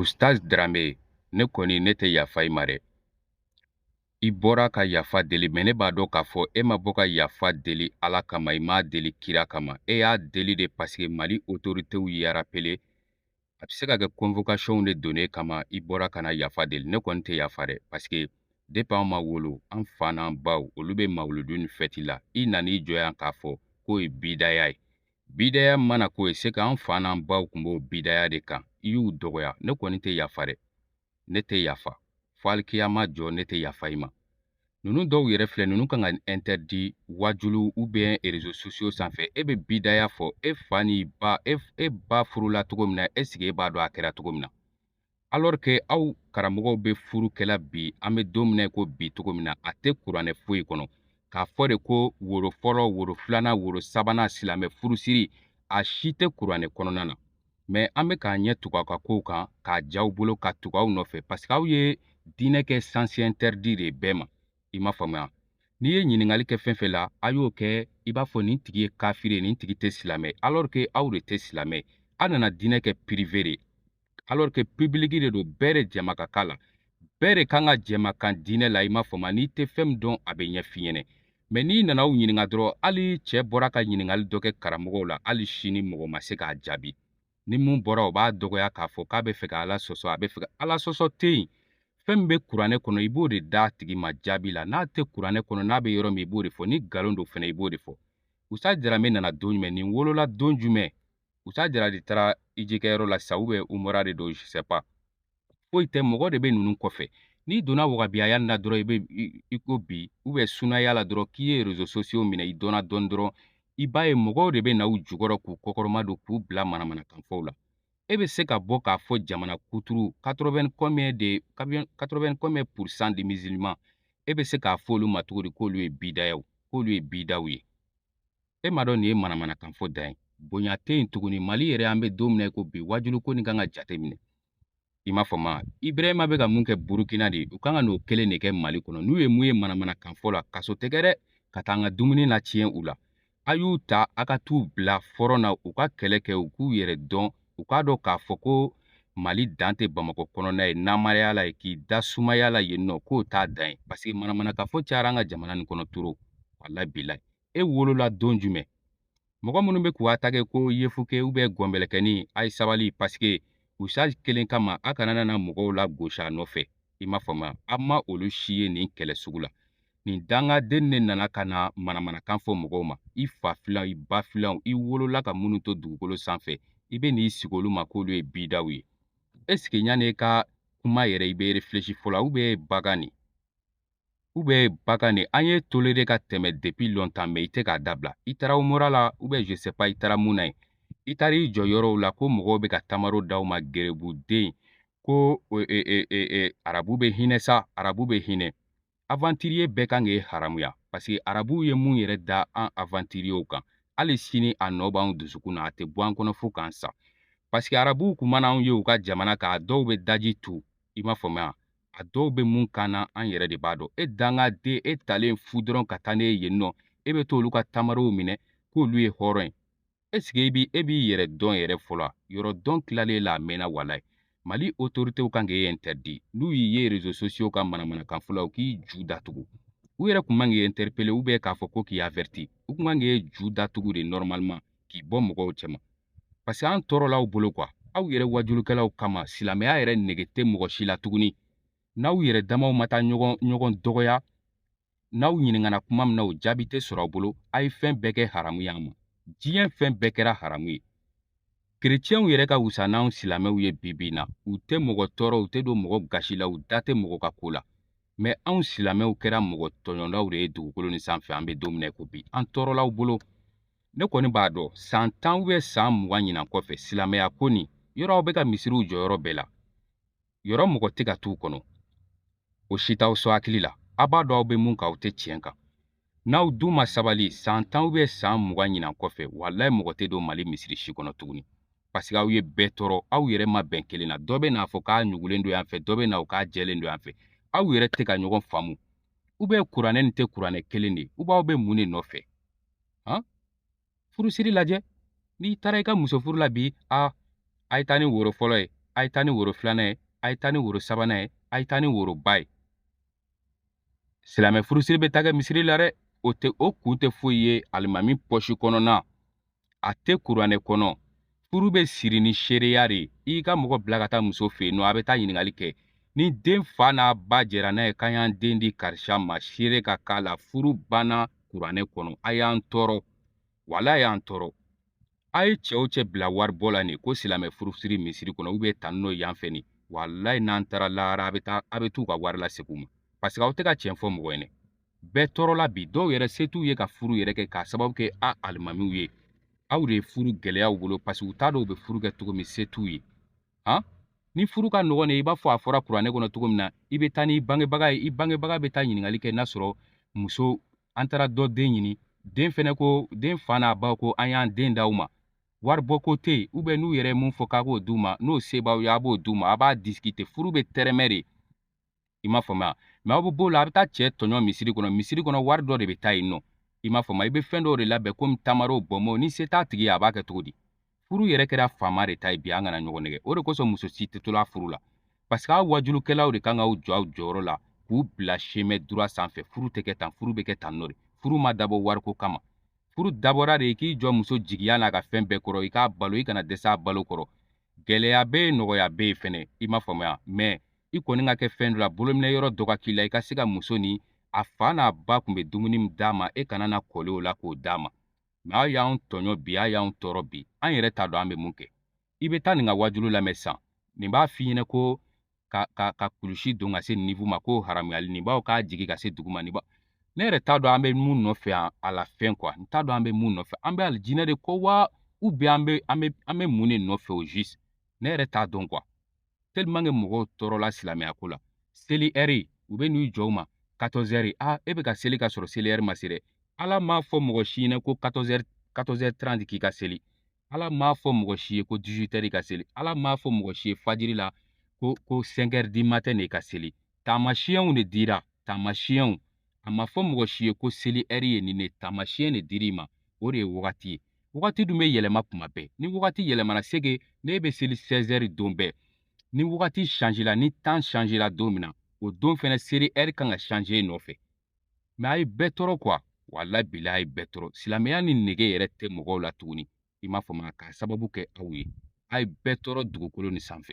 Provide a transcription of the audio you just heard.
Ustaz Dramé ne kɔni ne tɛ yafa i ma dɛ. I bɔra ka yafa deli mɛ ne b'a dɔn k'a fɔ e ma bɔ ka yafa deli Ala kama i m'a deli kira kama e y'a deli de paseke Mali otoritew y'i arapele a bɛ se ka kɛ kɔnvokasiyɔnw de don e kama i bɔra ka na yafa deli ne kɔni tɛ yafa dɛ paseke depi an ma wolo an fa n'an baw olu bɛ mawuludu ni fɛti la i nan'i jɔ yan k'a fɔ k'o ye bidaya ye Bidaya mana k'o ye c'est qu'an fa n'an baw kun b'o bidaya de kan i y'u dɔgɔya ne kɔni tɛ yafa dɛ ne tɛ yafa fo alikiyama jɔ ne tɛ yafa i ma ninnu dɔw yɛrɛ filɛ ninnu kan ka interdit wajulu ou bien réseaux sociaux sanfɛ e bɛ bidaya fɔ e fa ni ba e, e ba furula cogo min na est ce que e b'a dɔn a kɛra cogo min na alors que aw karamɔgɔw bɛ furu kɛla bi an bɛ don min na ko bi cogo min na a tɛ kuranɛ foyi kɔnɔ k'a fɔ de ko woro fɔlɔ woro filanan woro sabanan silamɛ furusiri a si tɛ kuranɛ kɔnɔna na mais an bɛ k'an ɲɛ tugu aw ka kow kan k'a j'aw bolo ka tugu aw nɔfɛ parce que aw ye diinɛ kɛ sens interdit de bɛɛ ma i m'a faamuya n'i ye ɲininkali kɛ fɛn fɛn la a y'o kɛ i b'a fɔ nin tigi ye kafiri ye nin tigi tɛ silamɛ alors que aw de tɛ silamɛ aw nana diinɛ kɛ privé de alors que public de don bɛɛ de jɛma ka k'a la bɛɛ de kan ka jɛma kan diinɛ la i m'a faamuya n'i tɛ fɛn min dɔn a bɛ ɲɛf'i ɲɛnɛ mais n'i nana u ɲininka dɔrɔn hali cɛ bɔra ka ɲininkali dɔ kɛ karamɔgɔw la hali sini mɔgɔ ma se k'a jaabi ni mun bɔra o b'a dɔgɔya k'a fɔ k'a bɛ fɛ ka ala sɔsɔ a bɛ fɛ ka ala sɔsɔ tɛ yen fɛn min bɛ kuranɛ kɔnɔ i b'o de d'a tigi ma jaabi la n'a tɛ kuranɛ kɔnɔ n'a bɛ yɔrɔ min i b'o de fɔ ni nkalon don fɛnɛ i b'o de fɔ Ustaz Dramé nana don jumɛn nin wolola don jumɛn Ustaz Dramé de taara hijikɛyɔrɔ la sa ou bien umura de don je sais pas foyi tɛ mɔgɔ de bɛ ninnu kɔfɛ n'i donna wahabiyaya na dɔrɔn i bɛ i ko bi ou bien sunaya la dɔrɔn k'i ye rezo sosiyo minɛ i dɔnna dɔɔni dɔrɔn i b'a ye mɔgɔw de bɛ na u jukɔrɔ k'u kɔkɔrɔmadon k'u bila manamanakanfɔw la e bɛ se ka bɔ k'a fɔ jamana kuturu 80 combien de 80 combien pourcent de musulmans e bɛ se k'a fɔ olu ma cogo di k'olu ye bidayaw k'olu ye bidaw ye e m'a dɔn nin ye manamanakan fɔ dan ye bonya tɛ yen tuguni mali yɛrɛ an bɛ don min na i ko bi wajulu ko nin kan ka jate minɛ i m'a faamuya ibrahima bɛ ka mun kɛ burukina de u kan ka n'o kelen de kɛ mali kɔnɔ n'u ye mun ye manamanakan fɔ la kaso tɛ kɛ dɛ ka taa an ka dumuni latiɲɛ u la a y'u ta a ka t'u bila fɔrɔn na u ka kɛlɛ kɛ u k'u yɛrɛ dɔn u k'a dɔn k'a fɔ ko mali dan tɛ bamakɔ kɔnɔna ye namaraya la ye k'i da sumaya la yen nɔ k'o t'a dan ye paseke manamanakan fɔ cayara an ka jamana nin kɔnɔ trop walayi bilayi e wolola don jumɛn mɔgɔ minnu bɛ k'u atage ko yefuke ubiyɛn gɔnbɛlɛkɛni a ye sabali pasike usutazi kelen kama a kana nana mɔgɔw lagosi a nɔfɛ i m'a faamuya a ma olu si ye nin kɛlɛ sugu la nin dangaden de nana ka na manamanakan fɔ mɔgɔw ma i fa filanw i ba filanw i wolola ka minnu to dugukolo sanfɛ i bɛ n'i sigi olu ma k'olu ye bidaw ye esike yan'i ka kuma yɛrɛ i bɛ refilesi fɔlɔ ubiyɛn bagan nin ubiyɛn bagan nin an y'e tolere ka tɛmɛ depi lɔntan mɛ i tɛ k'a dabila i taara umura la ou bien je sais pas i taara mun na yen i taara i jɔ yɔrɔw la ko mɔgɔw bɛ ka tamaro d'aw ma gerebuden ko e, e, e, arabu bɛ hinɛ sa arabu bɛ hinɛ aventurier bɛɛ kan k'e haramuya parce que arabuw ye mun yɛrɛ da an aventuriers kan hali sini a nɔ b'anw dusukun na a tɛ bɔ an kɔnɔ fo k'an sa parce que arabuw kun mana anw ye u ka jamana kan a dɔw bɛ daji tu i m'a faamuya a dɔw bɛ mun kan na an yɛrɛ de b'a dɔn e danga den e talen fu dɔrɔn ka taa n'e ye yen nɔ e bɛ t'olu ka tamarow minɛ k'olu ye hɔrɔn ye esike i bi e b'i yɛrɛ dɔn yɛrɛ fɔlɔ yɛrɛdɔn tilalen la a mɛnna walayi mali otoritew kan k'e interdit n'u y'i ye rezo sosiyo kan manamanakan fɔ la u k'i ju datugu u yɛrɛ kun man k'i interpele ubiyɛn k'a fɔ ko k'i averti u kun kan k'e ju datugu de nɔrɔmaliman k'i bɔ mɔgɔw cɛma parce que an tɔɔrɔla aw bolo kuwa aw yɛrɛ waajulikɛlaw kama silamɛya yɛrɛ nege tɛ mɔgɔ si la tuguni n'aw yɛrɛ damaw ma taa ɲɔgɔn ɲɔgɔn dɔgɔya n'aw ɲininkana kuma min na o jaabi tɛ sɔrɔ aw bolo a ye fɛn bɛɛ kɛ haramu ye an ma diɲɛ fɛn bɛɛ kɛra haramu ye kerecɛnw yɛrɛ ka wusa n'anw silamɛw ye bi bi in na u tɛ mɔgɔ tɔɔrɔ u tɛ don mɔgɔ gasi la u da tɛ mɔgɔ ka ko la mɛ anw silamɛw kɛra mɔgɔ tɔɲɔlaw de ye dugukolo nin sanfɛ an bɛ don min na ko bi an tɔɔrɔla aw bolo ne kɔni b'a dɔn san tan ubiyɛn san mugan ɲinan kɔfɛ silamɛya ko nin yɔrɔ aw bɛ ka misiriw jɔ yɔrɔ bɛɛ la yɔrɔ mɔgɔ tɛ ka t'u kɔnɔ o si t'aw sɔn hakili la a b'a dɔn aw bɛ mun kan aw tɛ tiɲɛ kan n'aw dun ma sabali san tan ubiyɛn san mugan ɲinan kɔfɛ walayi mɔgɔ tɛ don mali misiri si kɔnɔ tuguni paseke aw ye bɛɛ tɔɔrɔ aw yɛrɛ ma bɛn kelen na dɔ bɛ n'a fɔ k'a ɲugulen don yan fɛ dɔ bɛ na o k'a jɛlen don yan fɛ aw yɛrɛ tɛ ka ɲɔgɔn faamu ubiyɛn kuranɛ nin tɛ kuranɛ kelen de ye ubiyɛn aw bɛ mun de nɔfɛ han furusiri lajɛ n'i taara i ka muso furu la bi a a ye taa ni woro fɔlɔ ye a ye taa ni woro filanan ye a ye taa ni woro sabanan ye a ye taa ni woroba ye silamɛ furusiri bɛ taa kɛ misiri la dɛ o tɛ o kun tɛ foyi ye alimami pɔsi kɔnɔna a tɛ kuranɛ kɔnɔ furu bɛ siri ni seereya de ye i ka mɔgɔ bila ka taa muso fɛ yen nɔ a bɛ taa ɲininkali kɛ ni den fa n'a ba jɛra n'a ye k'an y'an den di karisa ma seere ka k'a la furu banna kuranɛ kɔnɔ a y'an tɔɔrɔ wala a y'an tɔɔrɔ a ye cɛ o cɛ bila waribɔ la nin ko silamɛ furusiri misiri kɔnɔ ubiyɛn tanni n'o yan fɛ nin walayi n'an taara lahara a bɛ taa a bɛ t'u ka wari lasegin u ma paseke aw tɛ ka tiɲɛ fɔ mɔgɔ ye dɛ bɛɛ tɔɔrɔla bi dɔw yɛrɛ se t'u ye ka furu yɛrɛ kɛ k'a sababu kɛ a alimamiw ye aw de ye furu gɛlɛya u bolo parce que u t'a dɔn u bɛ furu kɛ cogo min se t'u ye han ni furu ka nɔgɔn de i b'a fɔ a fɔra kuranɛ kɔnɔ cogo min na i bɛ taa n'i bangebaga ye i bangebaga bɛ taa ɲininkali kɛ n'a sɔrɔ muso an taara dɔ den ɲini den fɛnɛ ko den fa n'a ba ko an y'an den d'aw ma wari bɔ ko tɛ yen n'u yɛrɛ ye mun fɔ k'a k'o d'u ma n'o se b'aw ye a b'o d'u ma a b'a discuter furu bɛ tɛrɛmɛ de i m'a faamuya mɛ aw bɛ b'o la a bɛ taa cɛ tɔɲɔ misiri kɔnɔ misiri kɔnɔ wari dɔ de bɛ taa yen nɔ i m'a faamuya i bɛ fɛn dɔw de labɛn komi tamaro bɔnbɔn ni se t'a tigi ye a b'a kɛ cogo di furu yɛrɛ kɛra faama de ta ye bi an kana ɲɔgɔn nɛgɛn o de kosɔn muso si tɛ to la furu la parce que aw wajulukɛlaw de kan k'aw jɔ aw jɔyɔrɔ la k'u bila chemin droit sanfɛ furu tɛ kɛ tan furu bɛ kɛ tan nɔ de furu ma dabɔ wariko kama furu dabɔra de k'i jɔ muso jigiya n'a ka fɛn bɛɛ kɔrɔ i k'a balo i kana dɛsɛ a balo kɔrɔ gɛlɛya bɛ yen nɔgɔya bɛ yen fɛnɛ i m'a faamuya mɛ i kɔni ka kɛ fɛn dɔ la bolominɛ yɔrɔ dɔ ka k'i la i ka se ka muso ni a fa n'a ba kun bɛ dumuni min d'a ma e kana na kɔli o la k'o d'a ma mɛ a y'anw tɔɲɔ bi a y'anw tɔɔrɔ bi an yɛrɛ t'a dɔn an bɛ mun kɛ i bɛ taa nin ka wajulu lamɛn sisan nin b'a f'i ɲɛna ko ka ka ka kulusi don ka se nin niveau ma ko haramuyali nin b'a fɔ k'a jigin ka se dugu ma nin b'a ne yɛrɛ t'a dɔn an bɛ mun nɔfɛ yan à la fin quoi n t'a dɔn an bɛ mun nɔfɛ an bɛ alijinɛ de kɔ wa ou bien an bɛ an bɛ an bɛ mun de nɔfɛ au juste ne yɛrɛ t'a dɔn quoi tellement que mɔgɔw tɔɔrɔla silamɛya ko la seli ɛri u bɛ n'u jɔ u ma 14 heures a e bɛ ka seli ka sɔrɔ seli ɛri ma se dɛ ala m'a fɔ mɔgɔ si ɲɛna ko 14 heures 14 heures 30 k'i ka seli ala m'a fɔ mɔgɔ si ye ko 18 heures ka seli ala m'a fɔ mɔgɔ si ye fajiri la ko ko 5 heures du matin de ka seli taamasiyɛnw de dira taamasiyɛnw a ma fɔ mɔgɔ si ye ko seli ɛri ye nin de taamasiyɛn de dir'i ma o de ye wagati ye wagati dun bɛ yɛlɛma kuma bɛɛ ni wagati yɛlɛmana c'est que ne bɛ seli 16 heures don bɛɛ ni wagati change la ni temps change la don min na o don fɛnɛ seli ɛri kan ka change e nɔfɛ mɛ a ye bɛɛ tɔɔrɔ quoi walayi bilahi a ye bɛɛ tɔɔrɔ silamɛya nin nege yɛrɛ tɛ mɔgɔw la tuguni i m'a faamu k'a sababu kɛ aw ye a ye bɛɛ tɔɔrɔ dugukolo nin sanfɛ